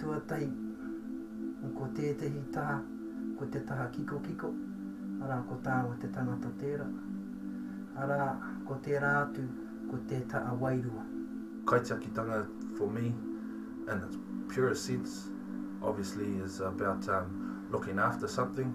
Tuatahi, ko tētehi taha, ko te taha kikokiko, arā, ko tāua te tangata tērā, arā, ko tērā atu, ko te taha wairua. Kaitiakitanga for me, in its purest sense, obviously is about looking after something.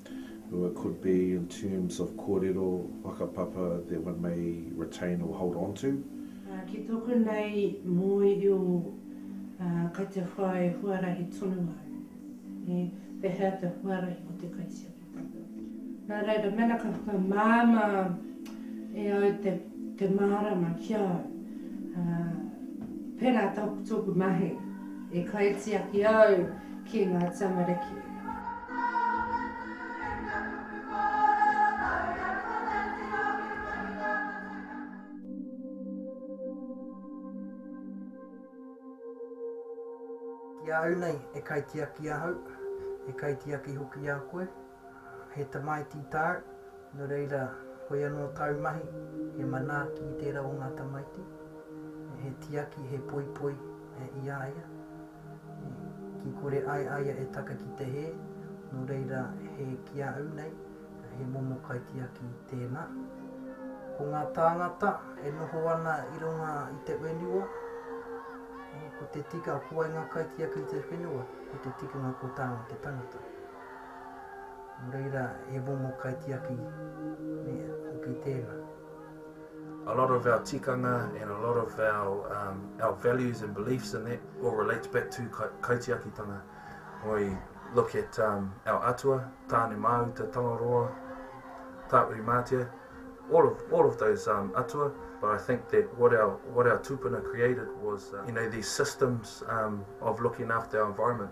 Well, it could be in terms of kōrero, whakapapa that one may retain or hold on to. Ki tōku nei mōhio, kei te whai huarahi tonu au e pēhea te huarahi o te kaitiakitanga. Nā reira, mēnā ka whakamāmā e au te mārama ki a au, pērā tōku mahi e kaitiaki au, ki ngā tamariki. Ki a au nei, he kaitiaki ahau, he kaitiaki hoki a koe, he tamaiti tāu, nō reira, koia nō tāu mahi, he manaaki i tērā o ngā tamaiti, he tiaki, he poipoi i a ia. Ki kore ai a ia e taka ki te hē, nō reira he ki a au nei, he momo kaitiaki tēnā. Ko ngā tāngata e noho ana i runga i te whenua, ko te tika, ko wai ngā kaitiaki i te whenua, ko te tikanga ko tāna te tangata. Nō reira he momo kaitiaki hoki tēnā. a lot of our tikanga and a lot of our, um, our values and beliefs in that all relates back to ka kaitiakitanga. When we look at um, our atua, Tāne Māuta, Tangaroa, Tāuri Mātea, all of, all of those um, atua, but I think that what our, what our tūpuna created was, uh, you know, these systems um, of looking after our environment.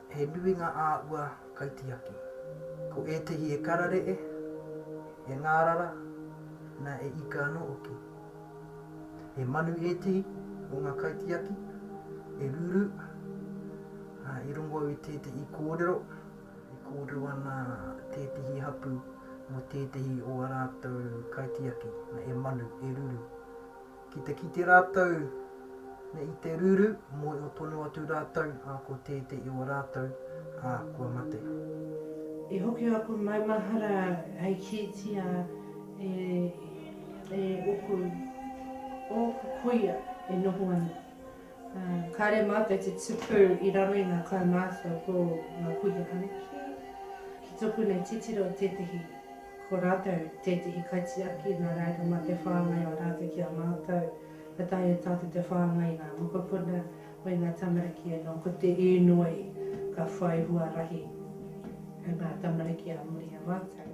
He nui ngā āhua kaitiaki. Ko ētehi e kararee, e ngārara, na e ika anō hoki. He manu ētehi o ngā kaitiaki e ruru, ā, i rongo au i tētehi kōrero, e kōrero ana tētehi hapū mō tētehi o a rātou kaitiaki, na e manu, e ruru. Ki te kite rātou nei i te ruru, mōhio tonu atu rātou, ā, ko tētē i o rātou, ā, kua mate. I hoki a koe maumahara hei kītia e, e ōku, ōku kuia e noho ana. Kāre mātou te tupu i raro i ngā kaumātua ko ngā kuia anake. Ki tōku nei titiro tētehi ko rātou tētehi kaitiaki nā reira mā te whāngai o rātou ki a mātou ka taea tātou te whāngai i ngā mokopuna me ngā tamariki anō ko te īnoi ka whai huarahi ngā tamariki ā muri i a mātou.